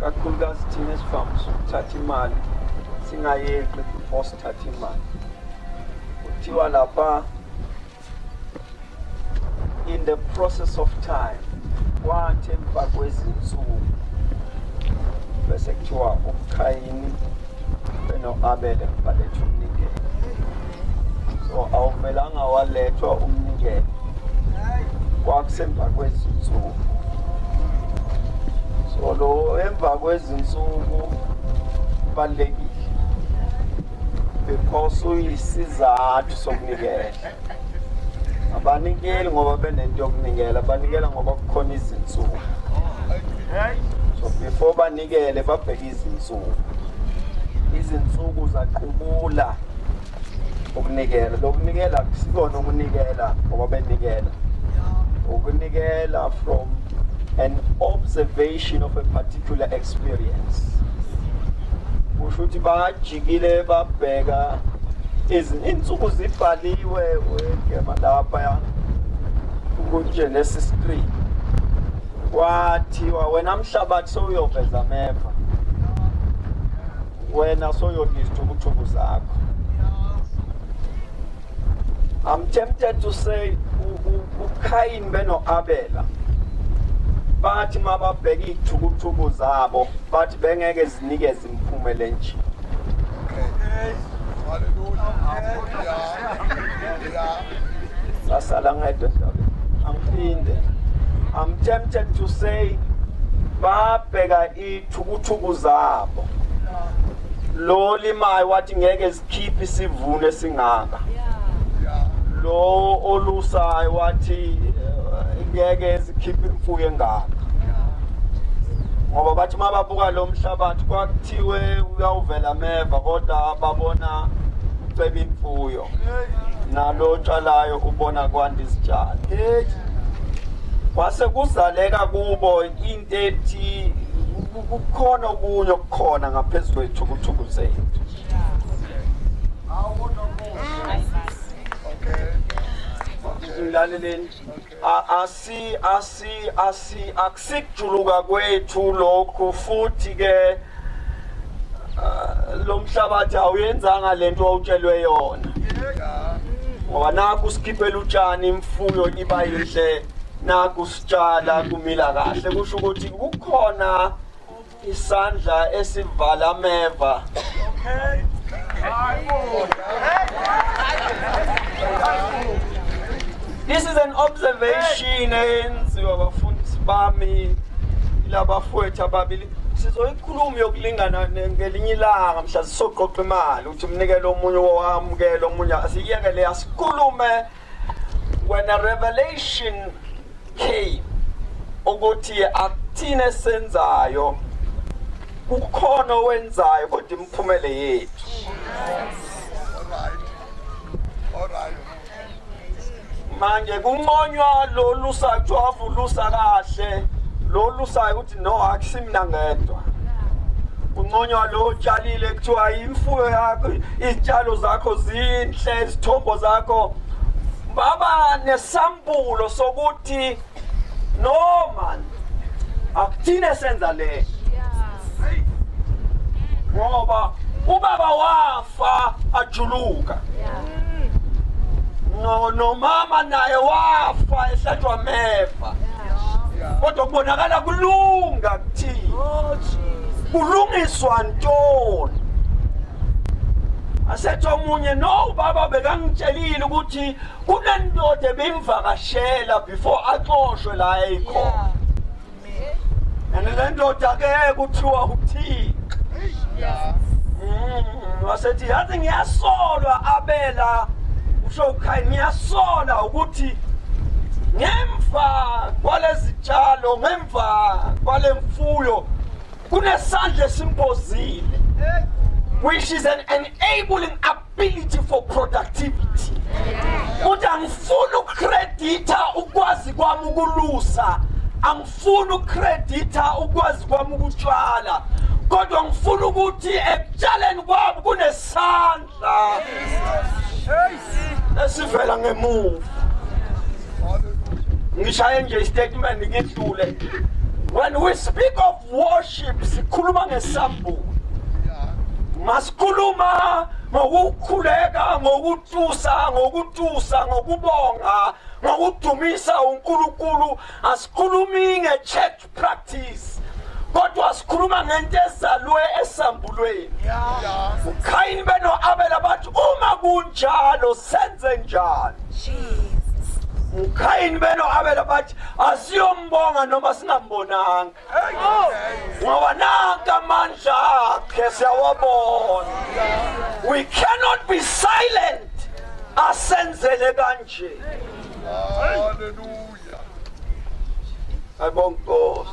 kakhulukazi thina esivamisa ukuthatha imali singayeqi before sithatha imali kuthiwa lapha in the process of time kwathi emva kwezinsuku bese kuthiwa ubukhayini Benoabele baletha umnikelo. So awumelanga walethwa umnikelo. Kwakusemva kwezinsuku. So lo emva kwezinsuku balekile. Because uyisizathu sokunikela. Abanikeli ngoba benento yokunikela, banikela ngoba kukhona izinsuku. So before banikele babheke izinsuku izinsuku zaqubula ukunikela lokunikela kusikona ukunikela ngoba benikela ukunikela from an observation of a particular experience kusho ukuthi bajikile babheka izinsuku zibhaliwe wegema lapha ya ukuthi nesi screen kwathiwa wena mhlabathi sowuyoveza ameva wena soyodla izithukuthungu zakho I'm tempted to say uKhayini benoAbela bathi mababheka izithukuthuku zabo bathi bengeke zinikeze imphumela enje Hallelujah. Hallelujah. ngasala ngedwa endaweni angiphinde i'm tempted to say babheka ithukuthuku zabo lo limayo wathi ngeke sikhiphe isivuno esingaka lo olusayo wathi eh, ngeke sikhiphe imfuyo engaka ngoba bathi uma babuka lo mhlabathi kwakuthiwe uyawuvela meva kodwa babona uceba imfuyo nalo otshalayo ubona kwanda izitshalo kwase kuzaleka kubo into ethi kukhona okunye okukhona ngaphezu kwethukuthukulu zethu ngilaleleni asi asi asi akusikujuluka kwethu lokhu futhi ke ah, lo mhlabathi awuyenzanga lento owutshelwe yona ngoba nakho usikhiphela utshani imfuyo iba yinhle nakho sitshala kumila kahle kusho ukuthi kukhona isandla esivala ameva okay This is an observation eyenziwa abafundisi bami labafowethu ababili sizoyikhuluma yokulingana ngelinye ilanga mhla sisoqoqa imali ukuthi umnikele omunye owamukele omunye asiyekele asikhulume When a revelation came ukuthi akuthina senzayo kukhona owenzayo kodwa imphumele yethu manje kunconywa lolu sajwavu lusa kahle lolu sayo no akusimna ngedwa kunconywa lo utshalile kuthiwa imfuyo yakho izitshalo zakho zinhle izithombo zakho baba nesambulo sokuthi no man akuthine senza le ngoba ubaba wafa wafa ajuluka no nomama naye wafa ehlatshwa mefa kodwa kubonakala kulunga kuthini oh, kulungiswa ntoni asethi omunye no ubaba bekangitshelile ukuthi kunendoda ebimvakashela before axoshwe la eyikhona and le ndoda ke kuthiwa uthixo mm, wasethi yazi ngiyasolwa abela usho ukhaya ngiyasola ukuthi ngemva kwalezitshalo ngemva kwalemfuyo kunesandla esimbozile which is an enabling up ability for productivity ukuthi angifuni ukukreditha ukwazi kwami ukulusa angifuni ukukreditha ukwazi kwami ukutshala kodwa ngifuna ukuthi ekutshaleni kwami kunesandla esivela ngemuva ngishaye nje istatement ngidlule when we speak of worship sikhuluma ngesambulo masikhuluma ngokukhuleka ngokutusa ngokutusa ngokubonga ngokudumisa uNkulunkulu asikhulumi nge-church practice kodwa sikhuluma ngento ezalwe esambulweni ukhayini beno-abela bathi uma kunjalo senze njani mkhayini beno abela bathi asiyombonga noma singambonanga ngoba nanka amandla akhe siyawabona we cannot be silent asenzele kanje haleluya ayibonga inkosi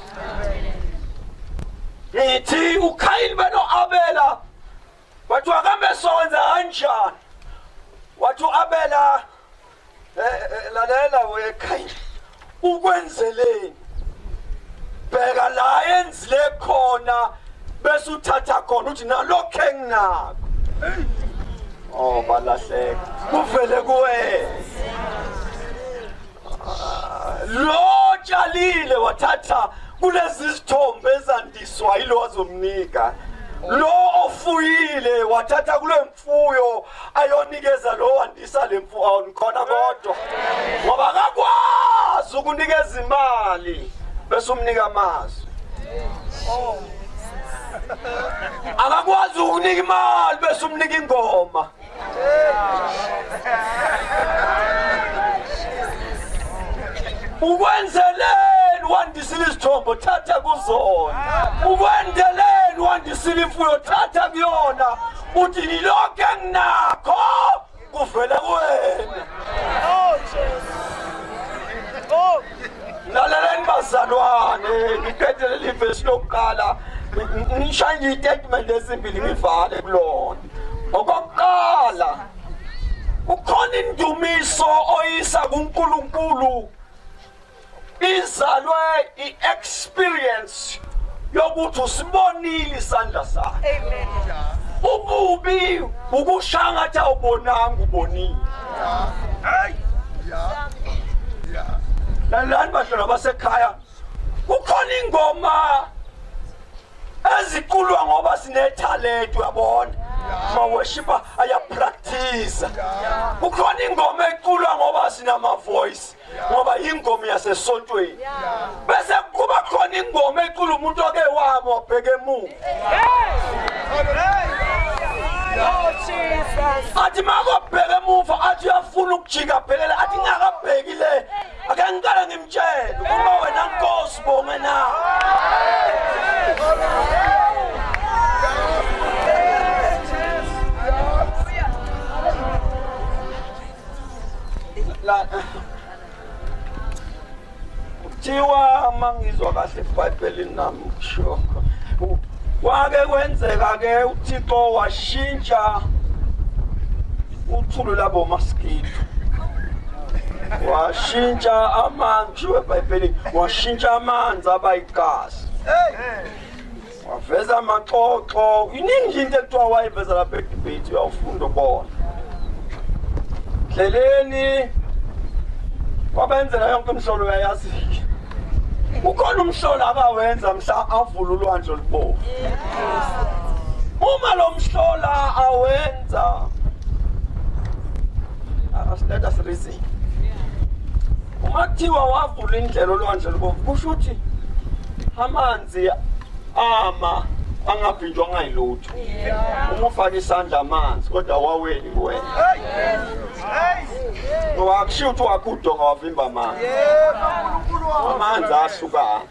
ngithi ukhayini beno abela wathi wakambe sokwenza kanjani wathi u-abela eh, eh, lalela wekhaya ukwenzeleni bheka la enzile khona bese uthatha khona uthi nalokho enginako oh balahleka kuvele kuwena lo tshalile wathatha kulezi zithombe ezandiswa yilo wazomnika lo ofuyile wathatha kule mfuyo ayonikeza lo wandisa le mfuyo awunikhona kodwa ngoba akakwazi ukunikeza imali bese umnika amazwi akakwazi ukunika imali bese umnika ingoma ukwenzeleni wandisile izithombo thatha kuzona ukwenzeleni wandisile imfuyo thatha kuyona uthi nilokho enginakho kuvela kuwena lalelani bazalwane ngiphethe leli vesi lokuqala ngishaye nje itatement ezimbili ngivale kulona okokuqala ukhona indumiso oyisa kuNkulunkulu izalwe i-experience yokuthi usibonile isandla sakhe amen ububi ukushangatha ubonanga ubonile hey yeah yeah lalani bashona basekhaya kukhona ingoma eziculwa ngoba sinethalente uyabona maweshipa ayapractice kukhona ingoma eculwa ngoba sinama voice ngoba yingoma yasesontweni bese kuba khona ingoma ecula umuntu oke wabo abheke emuva athi makobheke emuva athi uyafuna ukujika phelele athi ngakabheki le ake ngiqale ngimtshele uma wena nkosi bonge na kuthiwa uma ngizwa kahle ebhayibhelini nami kusho kwake kwenzeka-ke uthixo washintsha uthulu labo maskido washintsha amanzi ushiwo ebhayibhelini washintsha amanzi abayigazi waveza amaxoxo iningi into ekuthiwa wayiveza lapha edebate uyawufunda ubona ndleleni wabenzela yonke umhlolo uyayazi-ke ukhona umhlolo akawenza mhla avula ulwandle olubovu uma lo mhlola awenza let us reason uma kuthiwa wavula indlela olwandle lubovu kusho ukuthi amanzi Siya ama angaphindwa ngayilutho. Uma ufaka isandla amanzi kodwa waweni kuwena. Ngoba akushiwo ukuthi wakho udonga wavimba amanzi. Amanzi asuka.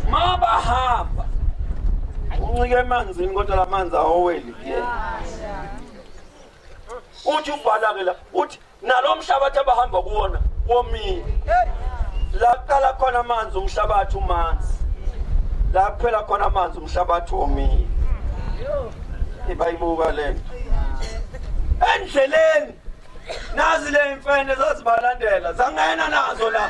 Ma bahamba uncike emanzini kodwa lamanzi awoweli kuyena. uthi uvala-ke la uthi nalo mhlabathi abahamba kuwona womile la kuqala khona amanzi umhlabathi umanzi la kuphela khona amanzi umhlabathi womile ibayibuka le nto endleleni nazi le mfene zazibalandela zangena nazo la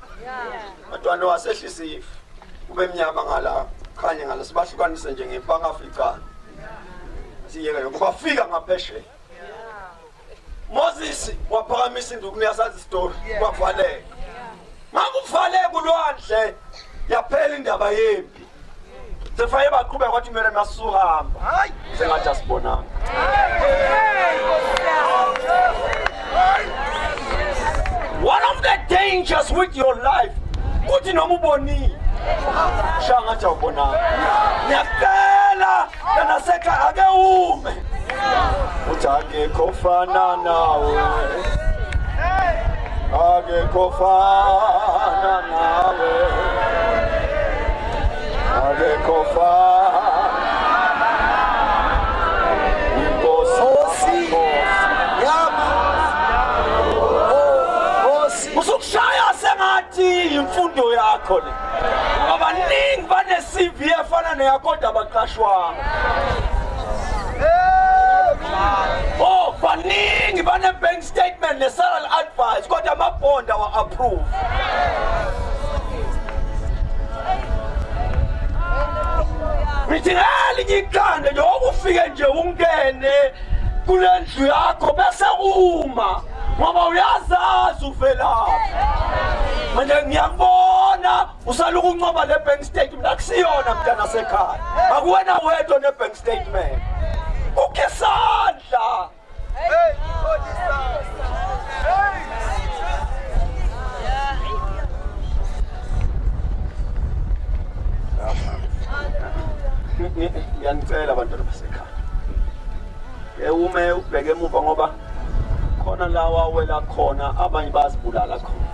Matwando wasehlisa ifu kube mnyama ngala khanye ngala sibahlukanise nje ngepangaficana siyeke lokho bafika ngaphesheya Moses waphakamisa induku niyasazi isitori kwavaleka makuvaleka ulwandle yaphela indaba yempi sefaye baqhubeka kwathi kumele masuhamba hayi sengathi asibonanga one of the dangers with your life kuthi noma ubonile shangathi awubonanga ngiyakela Yena sekha ake ume. Uthi akekho fana nawe. Akekho fana nawe. Akekho fana imfundo yakho le abaningi bane-cv efana neyakoda abaqashwanga oh baningi bane-bank statement ne-salary advice kodwa amabond awa-approve ngithi ngelinye ikhanda nje okufike nje ungene kule ndlu yakho bese uma ngoba uyazazi uvelaphi manje ngiyakubona usala ukuncoba le bank statement akusiyona mntana sekhaya akuwena wedwa ne bank statement ukhe sandla hey ngiyanicela abantwana basekhaya ewume ubheke emuva ngoba khona la wawela khona abanye bazibulala khona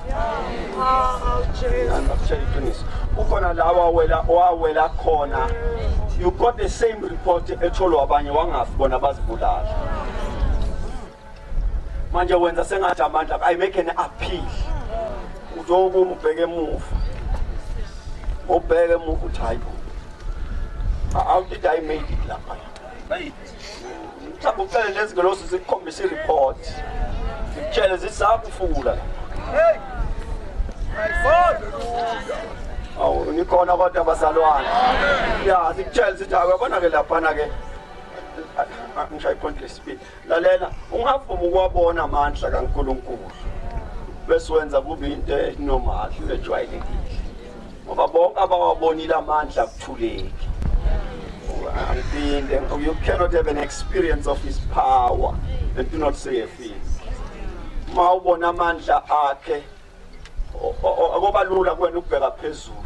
ngakutshela iqiniso kukhona la wawela wawela khona you got the same report etholwa abanye wangafi bona bazibulala manje wenza sengathi amandla i make an appeal uzokuma ubheke emuva ubheke emuva uthi hayi bo how did i make it lapha mhlawumbe ucele lezi ngelosi zikukhombisa i-report zikutshele zisakufula awu nikhona kodwa abazalwane ya zikutshele zithi akuyabona ke laphana ke ngishaye ikhonti lesibili lalela ungavuma ukuwabona amandla kankulunkulu bese wenza kube into enormal ejwayelekile ngoba bonke abawabonile amandla akuthuleki angiphinde you cannot have an experience of his power and do not say a thing uma ubona amandla akhe akobalula kuwena ukubheka phezulu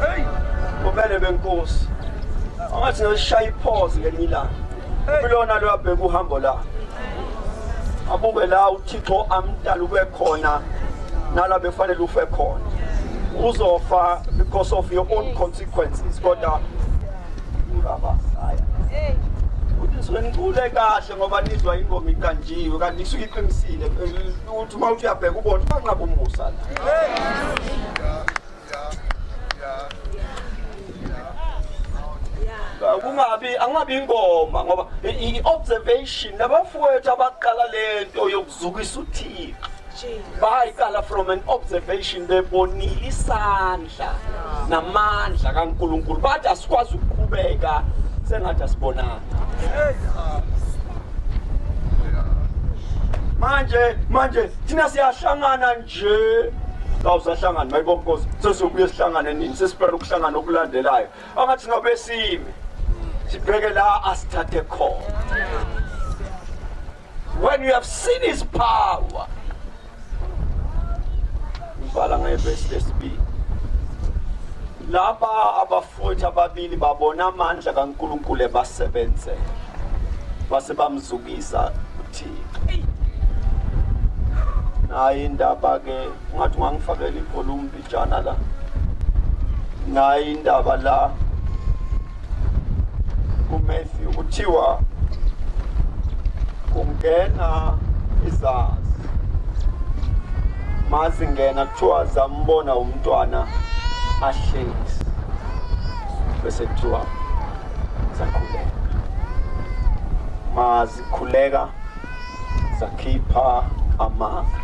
Hey! Ubele benkosi. Angathi ngishaya iphozi ngelinye ilanga. Kulona lo abheka uhambo la. Abuke la uThixo amdala ube khona nala befanele ufe khona. Uzofa because of your own consequences kodwa ungaba saya. Hey! nisuke nicule kahle ngoba nizwa ingoma iqanjiwe kanti isuke iqinisile ukuthi uma uthi uyabheka ubona ubanqaba umusa la kungabi angabi ingoma ngoba i-observation nabafowethu abaqala le nto yokuzukisa uthixo bayiqala from an observation bebonile isandla namandla kankulunkulu bathi asikwazi ukuqhubeka sengathi asibonanga manje manje thina siyahlangana je awusahlangani mayibo nkosi sesiyobuye sihlangane nini sesibheka ukuhlangana okulandelayo angathi ngabe sime sibheke la asithathe khona when you have seen his power ngibhala ngevesi lesibili laba Futhi ababili babona amandla kaNkulunkulu ebasebenze base bamzukisa uThixo. Nayi indaba ke ungathi ungangifakela ivolume bijana la. Nayi indaba la uMatthew kuthiwa kungena izazi mazingena kuthiwa zambona umntwana ahlezi bese kuthiwa zakhuleka mazikhuleka zakhipha amanga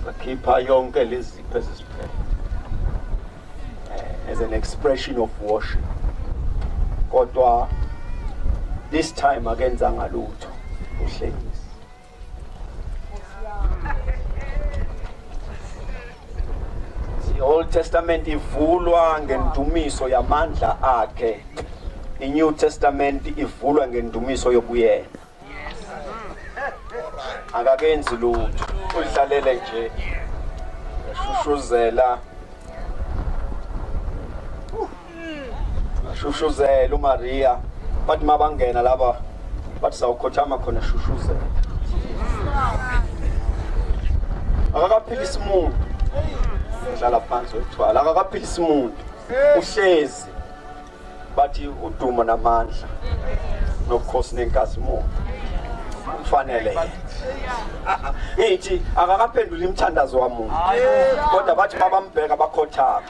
zakhipha yonke lezipho ezisiphethe eh, as an expression of worship kodwa this time akenzanga lutho uhlengisi i-old testament ivulwa ngendumiso yamandla akhe i-new testament ivulwa ngendumiso yobuyena akakenzi lutho ulihlalele nje eshushuzela Shushuzela uMaria bathi mabangena laba bathi sawukhothama khona shushuzela. Akakaphilisi umuntu. Udlala phansi wethwala akakaphilisi umuntu. Uhlezi bathi udumo namandla nobukhosi nenkazimulo kufanele ngithi akakaphenduli imthandazo wamuntu kodwa bathi babambheka bakhothama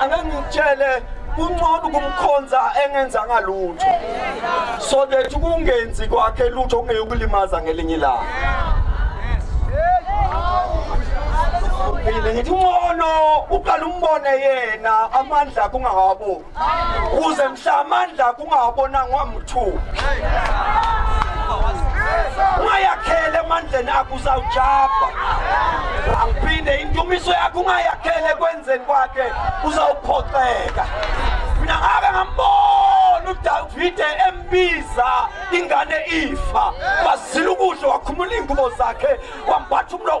angangitshele kuncono ukumkhonza engenzanga lutho so that kungenzi kwakhe lutho ongeke ukulimaza ngelinye ilanga mina ngithi uncono uqala umbone yena amandla kungawaboni kuze mhla amandla kungawabonangwa mthubi ungayakhele emandleni akho uzawujabha angiphinde indumiso yakho ungayakhele ekwenzeni kwakhe uzawuphoxeka mina ngake ngambona udavide embiza ingane ifa wazila ukudla wakhumula iy'ngubo zakhe wambatha umlo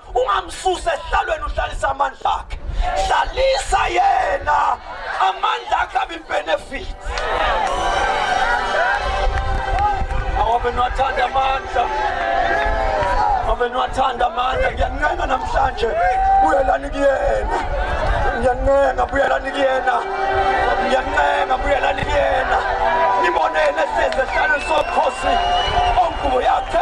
ungamsusi esihlalweni uhlalisa amandla akhe hlalisa yena amandla akhe abibenefit awabe niwathanda amandla awabe niwathanda amandla ngiyancenga namhlanje buyelani kuyena ngiyancenga buyelani kuyena ngiyancenga buyelani kuyena nibone yena ehlezi esihlalweni sobukhosi ongubo yakhe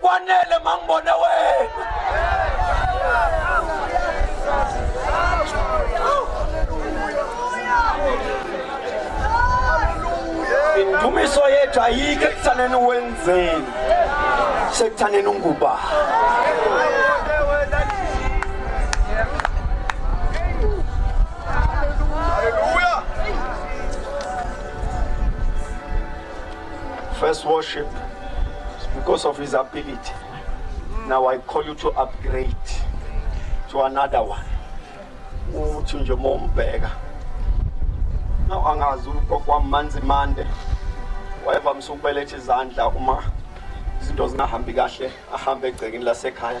kwanele mangibone wena indumiso yethu ayike ekuthaneni wenzeni sekuthaneni unguba First worship because of his ability. Now I call you to upgrade to another one. Uthi nje mombheka. Now angazi ugogo manzi mande. Wayeva msukubelethe izandla uma izinto zingahambi kahle ahambe egcekeni lasekhaya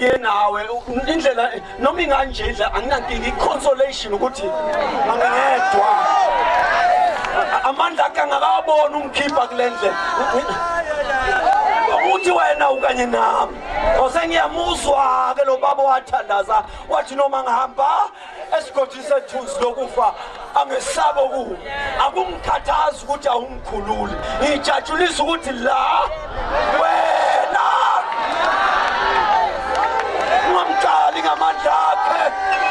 ngenawe indlela noma inganje indlela anginankinga i-consolation ukuthi angingedwa amandla akhe angakaboni ungikhipha kule ndlela uthi wena ukanye nami osengiyamuzwa ke lo baba wathandaza wathi noma ngihamba esigodini sethuzi lokufa angesabe ku akungikhathazi ukuthi awungikhululi ngijatshulisa ukuthi la wena ungamqali ngamandla akhe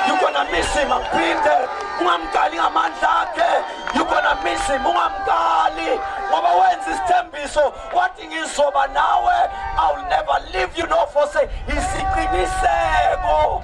you're gonna miss him angiphinde ungamqali ngamandla akhe you're gonna miss him ungamqali ngoba wenza isithembiso wathi ngizoba nawe i will never leave you no forsake isiqiniseko